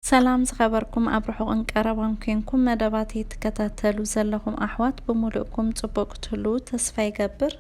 ሰላም ዝኸበርኩም ኣብ ርሑቕን ቀረባን ኮንኩም መደባተይ ትከታተሉ ዘለኹም ኣሕዋት ብምሉእኩም ጽቡቕ ክትህልዉ ተስፋ ይገብር።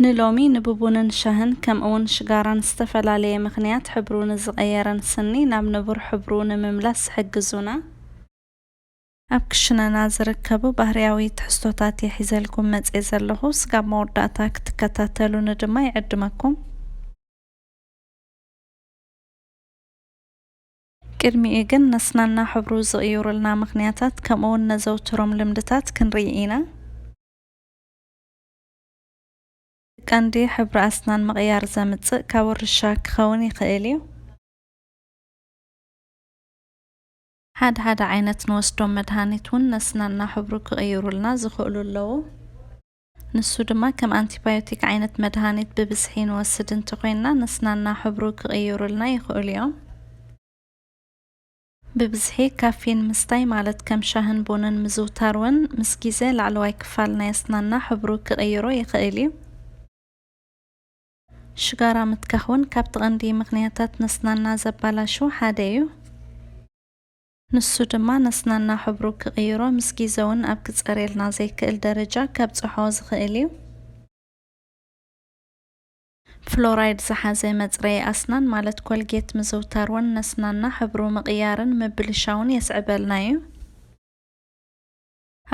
ንሎሚ ንብቡንን ሻህን ከምእውን ሽጋራን ዝተፈላለየ ምኽንያት ሕብሩ ንዝቐየረን ስኒ ናብ ንቡር ሕብሩ ንምምላስ ዝሕግዙና፣ ኣብ ክሽነና ዝርከቡ ባህርያዊ ትሕዝቶታት እየ ሒዘልኩም መጽየ ዘለኹ። ስጋብ መወዳእታ ክትከታተሉኒ ድማ ይዕድመኩም። ቅድሚኡ ግን ነስናና ሕብሩ ዝቕይሩልና ምኽንያታት ከምኡውን ነዘውትሮም ልምድታት ክንርኢ ኢና። እቲ ቀንዲ ሕብሪ ኣስናን ምቕያር ዘምጽእ ካብ ውርሻ ክኸውን ይኽእል እዩ። ሓደ ሓደ ዓይነት ንወስዶም መድሃኒት እውን ነስናና ሕብሩ ክቕይሩልና ዝኽእሉ ኣለዉ። ንሱ ድማ ከም ኣንቲባዮቲክ ዓይነት መድሃኒት ብብዝሒ ንወስድ እንተኾይንና ነስናና ሕብሩ ክቕይሩልና ይኽእሉ እዮም። ብብዝሒ ካፊን ምስታይ ማለት ከም ሻህን ቡንን ምዝውታር እውን ምስ ግዜ ላዕለዋይ ክፋል ናይ ኣስናንና ሕብሩ ክቕይሮ ይኽእል እዩ። ሽጋራ ምትካኽ እውን ካብቲ ቐንዲ ምኽንያታት ነስናንና ዘባላሹ ሓደ እዩ። ንሱ ድማ ነስናና ሕብሩ ክቕይሮ ምስ ጊዘውን ኣብ ክጸርየልና ዘይክእል ደረጃ ከብጽሖ ዝኽእል እዩ። ፍሎራይድ ዝሓዘ መጽረዪ ኣስናን ማለት ኮልጌት ምዝውታር ውን ነስናና ሕብሩ ምቕያርን ምብልሻውን የስዕበልና እዩ።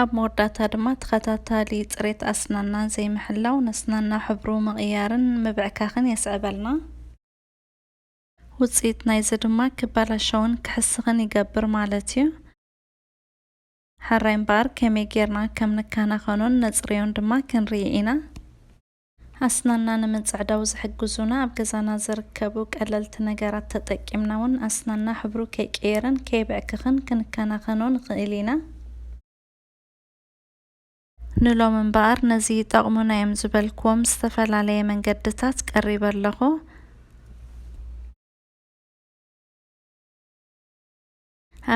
ኣብ መወዳእታ ድማ ተኸታታሊ ጽሬት ኣስናና ዘይምሕላው ነስናና ሕብሩ ምቕያርን ምብዕካኽን የስዕበልና። ውጽኢት ናይዚ ድማ ክበላሸውን ክሕስኽን ይገብር ማለት እዩ። ሐራይ እምበኣር ከመይ ጌርና ከም ንከናኸኖን ነጽርዮን ድማ ክንርኢ ኢና። ኣስናንና ንምጽዕዳው ዝሕግዙና ኣብ ገዛና ዝርከቡ ቀለልቲ ነገራት ተጠቂምና እውን ኣስናንና ሕብሩ ከይቅየርን ከይብዕክኽን ክንከናኸኖ ንኽእል ኢና። ንሎሚ እምበኣር ነዚ ይጠቕሙና እዮም ዝበልክዎም ዝተፈላለየ መንገድታት ቀሪበ ኣለኹ።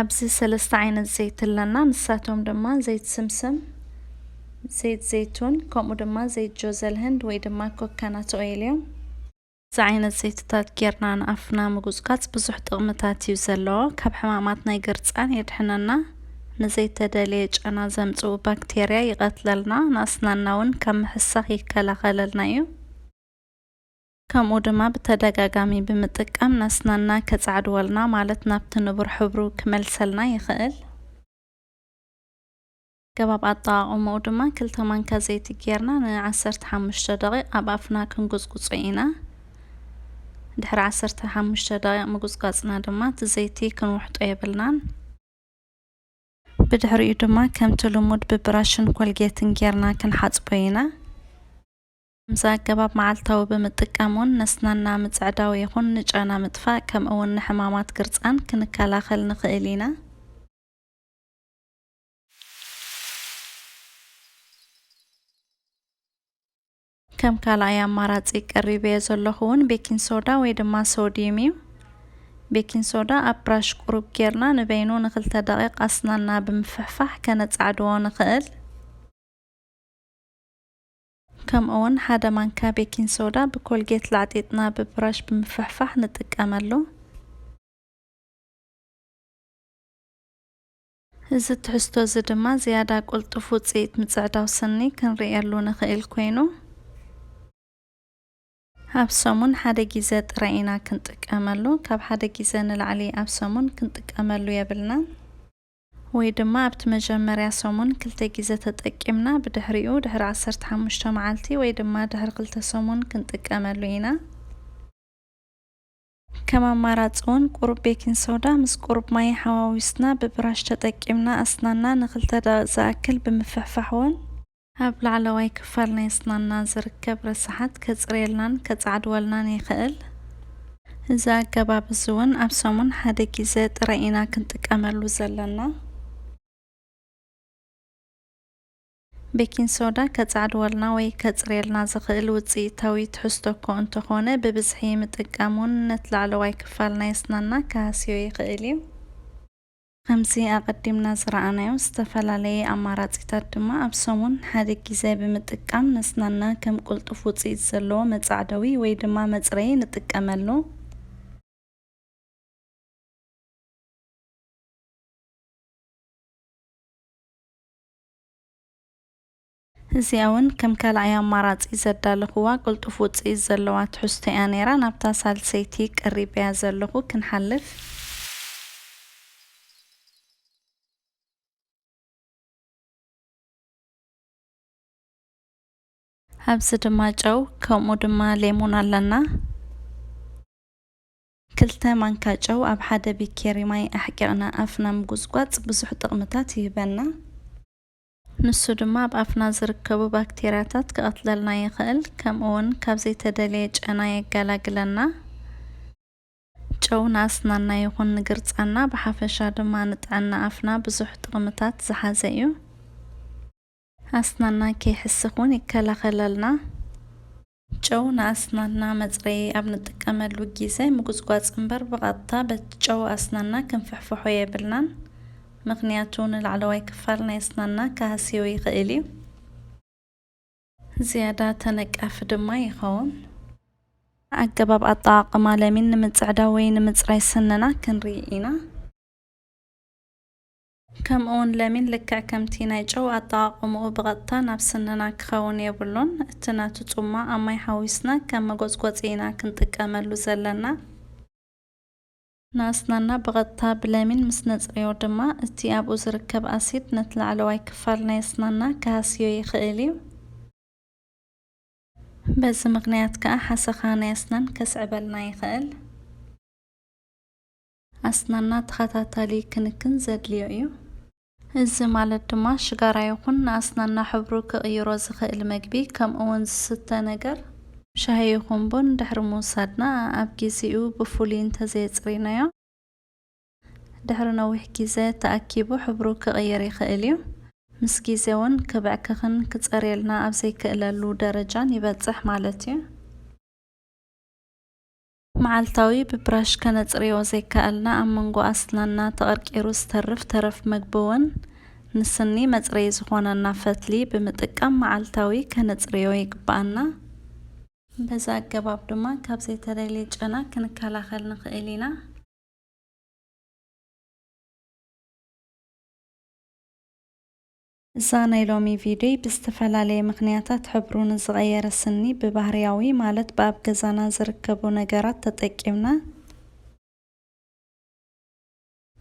ኣብዚ ሰለስተ ዓይነት ዘይቲ ኣለና። ንሳቶም ድማ ዘይት ስምስም፣ ዘይት ዘይቱን ከምኡ ድማ ዘይት ጆዘል ህንድ ወይ ድማ ኮካናት ኦይል እዮም። እዚ ዓይነት ዘይትታት ጌርና ንኣፍና ምጉጽጋጽ ብዙሕ ጥቕምታት እዩ ዘለዎ። ካብ ሕማማት ናይ ግርጻን የድሕነና፣ ንዘይተደልየ ጨና ዘምጽኡ ባክቴርያ ይቐትለልና፣ ንኣስናንና እውን ካብ ምሕሳኽ ይከላኸለልና እዩ። ከምኡ ድማ ብተደጋጋሚ ብምጥቃም ንኣስናንና ከጻዕድወልና ማለት ናብቲ ንቡር ሕብሩ ክመልሰልና ይኽእል። ኣገባብ ኣጠቓቕምኡ ድማ ክልተ ማንካ ዘይቲ ጌርና ን ዓሰርተ ሓሙሽተ ደቒቕ ኣብ ኣፍና ክንጉጽጉጾ ኢና። ድሕሪ ዓሰርተ ሓሙሽተ ደቒቕ ምጉጽጓጽና ድማ እቲ ዘይቲ ክንውሕጦ የብልናን። ብድሕሪኡ ድማ ከምቲ ልሙድ ብብራሽን ኮልጌትን ጌርና ክንሓጽቦ ኢና። ከምዚ ኣገባብ መዓልታዊ ብምጥቃም ውን ነስናና ምጽዕዳው ይኹን ንጨና ምጥፋእ ከምኡ ውን ንሕማማት ግርጻን ክንከላኸል ንኽእል ኢና። ከም ካልኣይ ኣማራጺ ቀሪበዮ ዘለኹ እውን ቤኪን ሶዳ ወይ ድማ ሶዲዩም እዩ። ቤኪን ሶዳ ኣብ ብራሽ ቁሩብ ጌርና ንበይኑ ንክልተ ደቂቕ ኣስናና ብምፍሕፋሕ ከነጻዕድዎ ንኽእል። ከምኡ እውን ሓደ ማንካ ቤኪን ሶዳ ብኮልጌት ላዕጢጥና ብብራሽ ብምፍሕፋሕ ንጥቀመሉ። እዚ ትሕዝቶ እዚ ድማ ዝያዳ ቅልጡፍ ውጽኢት ምጽዕዳው ስኒ ክንርእየሉ ንኽእል ኰይኑ፣ ኣብ ሰሙን ሓደ ግዜ ጥራይ ኢና ክንጥቀመሉ፣ ካብ ሓደ ግዜ ንላዕሊ ኣብ ሰሙን ክንጥቀመሉ የብልናን። ወይ ድማ ኣብቲ መጀመርያ ሰሙን ክልተ ግዜ ተጠቂምና ብድሕሪኡ ድሕሪ ዓሰርተ ሓሙሽተ መዓልቲ ወይ ድማ ድሕሪ ክልተ ሰሙን ክንጥቀመሉ ኢና። ከም ኣማራጺ'ውን ቁሩብ ቤኪን ሶዳ ምስ ቁሩብ ማይ ሓዋዊስና ብብራሽ ተጠቂምና ኣስናንና ንክልተ ደቒቕ ዝኣክል ብምፍሕፋሕ'ውን፣ ኣብ ላዕለዋይ ክፋል ናይ ኣስናንና ዝርከብ ረሳሓት ከጽርየልናን ከጻዕድወልናን ይኽእል። እዚ ኣገባብ እዚ'ውን ኣብ ሰሙን ሓደ ጊዘ ጥራይ ኢና ክንጥቀመሉ ዘለና። ቤኪን ሶዳ ከጻዕድወልና ወይ ከጽርየልና ዝኽእል ውጽኢታዊ ትሕዝቶ እኮ እንተኾነ ብብዝሒ ምጥቃም እውን ነት ላዕለዋይ ክፋል ናይ ኣስናንና ክሃስዮ ይኽእል እዩ። ከምዚ ኣቐዲምና ዝረኣናዮ ዝተፈላለየ ኣማራጺታት ድማ ኣብ ሰሙን ሓደ ጊዘ ብምጥቃም ነስናንና ከም ቅልጡፍ ውጽኢት ዘለዎ መጻዕደዊ ወይ ድማ መጽረዪ ንጥቀመሉ። እዚኣ'ውን ከም ካልኣይ ኣማራጺ ዘዳለኹዋ ቅልጡፍ ውጽኢት ዘለዋ ትሕዝቶ'ያ ነይራ። ናብታ ሳልሰይቲ ቀሪበያ ዘለኹ ክንሓልፍ። ኣብዚ ድማ ጨው ከምኡ ድማ ሌሙን ኣለና። ክልተ ማንካ ጨው ኣብ ሓደ ቢኬሪ ማይ ኣሕቂቕና ኣፍና ምጉጽጓጽ ብዙሕ ጥቕምታት ይህበና። ንሱ ድማ ኣብ ኣፍና ዝርከቡ ባክቴርያታት ክቐትለልና ይኽእል፣ ከምኡ'ውን ካብ ዘይተደልየ ጨና የገላግለና። ጨው ንኣስናንና ይኹን ንግርጻና ብሓፈሻ ድማ ንጥዕና ኣፍና ብዙሕ ጥቕምታት ዝሓዘ እዩ። ኣስናንና ከይሕስኽ እውን ይከላኸለልና። ጨው ንኣስናንና መጽረዪ ኣብ ንጥቀመሉ ጊዘ ምጉጽጓጽ እምበር ብቐጥታ በቲ ጨው ኣስናንና ክንፍሕፍሖ የብልናን ምኽንያቱ ንላዕለዋይ ክፋል ናይ ኣስናንና ክሃስዮ ይኽእል እዩ። ዝያዳ ተነቃፊ ድማ ይኸውን። ኣገባብ ኣጠቓቕማ ለሚን ንምጽዕዳው ወይ ንምጽራይ ስንና ክንርኢ ኢና። ከምኡውን ለሚን ልክዕ ከምቲ ናይ ጨው ኣጠቓቕምኡ ብቐጥታ ናብ ስንና ክኸውን የብሉን። እቲ ናቱ ጹማ ኣብ ማይ ሓዊስና ከም መጎጽጎጺ ኢና ክንጥቀመሉ ዘለና። ንኣስናንና ብቐጥታ ብለሚን ምስ ነጽርዮ ድማ እቲ ኣብኡ ዝርከብ ኣሲድ ነቲ ላዕለዋይ ክፋል ናይ ኣስናንና ክሃስዮ ይኽእል እዩ። በዚ ምኽንያት ከኣ ሓሰኻ ናይ ኣስናን ከስዕበልና ይኽእል። ኣስናና ተኸታታሊ ክንክን ዘድልዮ እዩ። እዚ ማለት ድማ ሽጋራ ይኹን ንኣስናንና ሕብሩ ክቕይሮ ዝኽእል መግቢ ከምኡ'ውን ዝስተ ነገር፣ ሻሂ ይኹን ቡን፣ ድሕሪ ምውሳድና ኣብ ጊዚኡ ብፍሉይ እንተዘየጽሪናዮ ድሕሪ ነዊሕ ጊዘ ተኣኪቡ ሕብሩ ክቕይር ይኽእል እዩ። ምስ ጊዘ ውን ክብዕክኽን ክጸርየልና ኣብ ዘይክእለሉ ደረጃን ይበጽሕ ማለት እዩ። መዓልታዊ ብብራሽ ከነጽርዮ ዘይከኣልና ኣብ መንጎ ኣስናንና ተቐርቂሩ ዝተርፍ ተረፍ መግቢ'ውን ንስኒ መጽረዪ ዝኾነና ፈትሊ ብምጥቃም መዓልታዊ ከነጽርዮ ይግበኣና። በዚ ኣገባብ ድማ ካብ ዘይተደልየ ጨና ክንከላኸል ንኽእል ኢና። እዛ ናይ ሎሚ ቪድዮይ ብዝተፈላለየ ምኽንያታት ሕብሩ ንዝቐየረ ስኒ ብባህርያዊ ማለት ብኣብ ገዛና ዝርከቡ ነገራት ተጠቂምና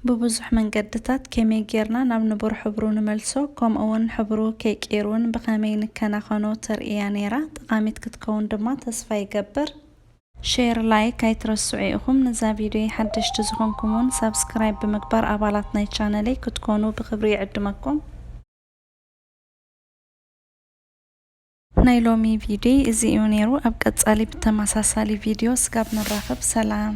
ብብዙሕ መንገድታት ከመይ ጌርና ናብ ንቡር ሕብሩ ንመልሶ ከምኡ ውን ሕብሩ ከይቅይር ውን ብኸመይ ንከናኸኖ ተርእያ ነይራ። ጠቓሚት ክትከውን ድማ ተስፋ ይገብር። ሼር ላይክ ኣይትረስዑ ኢኩም ንዛ ቪድዮይ ሓደሽቲ ዝኮንኩም ውን ሳብስክራይብ ብምግባር ኣባላት ናይ ቻነለይ ክትኮኑ ብክብሪ ይዕድመኩም። ናይ ሎሚ ቪድዮይ እዚ እዩ ነይሩ ኣብ ቀፃሊ ብተመሳሳሊ ቪድዮ ስጋብ ንራከብ ሰላም።